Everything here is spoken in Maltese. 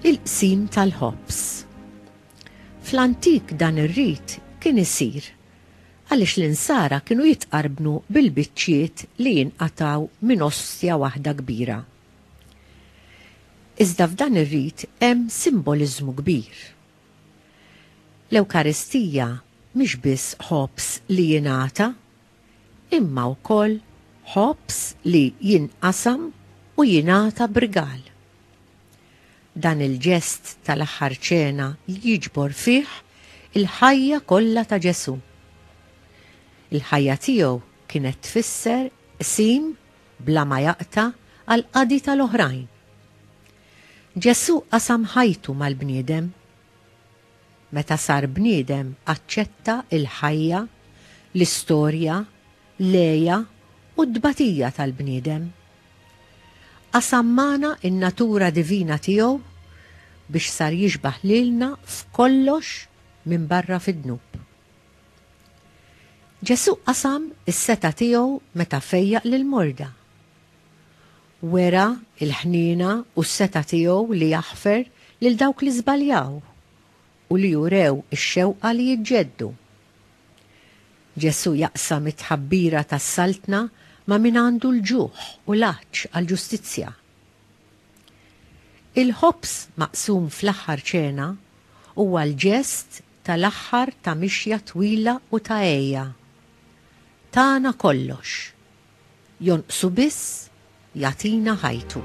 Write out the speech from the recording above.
Il-qsim tal-ħobż. Fl-antik dan ir-rit kien isir għaliex l-insara kienu jitqarbnu bil-biċċiet li jinqataw minn ostja waħda kbira. Iżda f'dan ir-rit hemm simboliżmu kbir. L-Ewkaristija mhix biss ħobż li jingħata, imma wkoll ħobż li jinqasam u jingħata b'rigal. Dan il-ġest tal-Aħħar Ċena jiġbor fih il-ħajja kollha ta' Ġesù. Il-ħajja tiegħu kienet tfisser qsim bla ma jaqta' għall-qadi tal-oħrajn. Ġesù qasam ħajtu mal-bniedem. Meta sar bniedem aċċetta l-ħajja, l-istorja, l-għeja u t-tbatija tal-bniedem. Qasam magħna n-natura divina tiegħu biex sar jixbah lilna f'kollox minbarra fid-dnub. Ġesù qasam is-setgħa tiegħu meta fejjaq lill-morda. Wera l-ħniena u s-setgħa tiegħu li jaħfer lil dawk li żbaljaw u li urew ix-xewqa li jiġġeddu. Ġesù jaqsam it-tħabbira tas-Saltna ma' min għandu l-ġuħ u l-għatx għall-ġustizzja. Il-ħobż maqsum fl-aħħar ċena huwa l-ġest tal-aħħar ta' mixja twila u ta' għeja. Tana kollox. Jonqsu biss jagħtina ħajtu.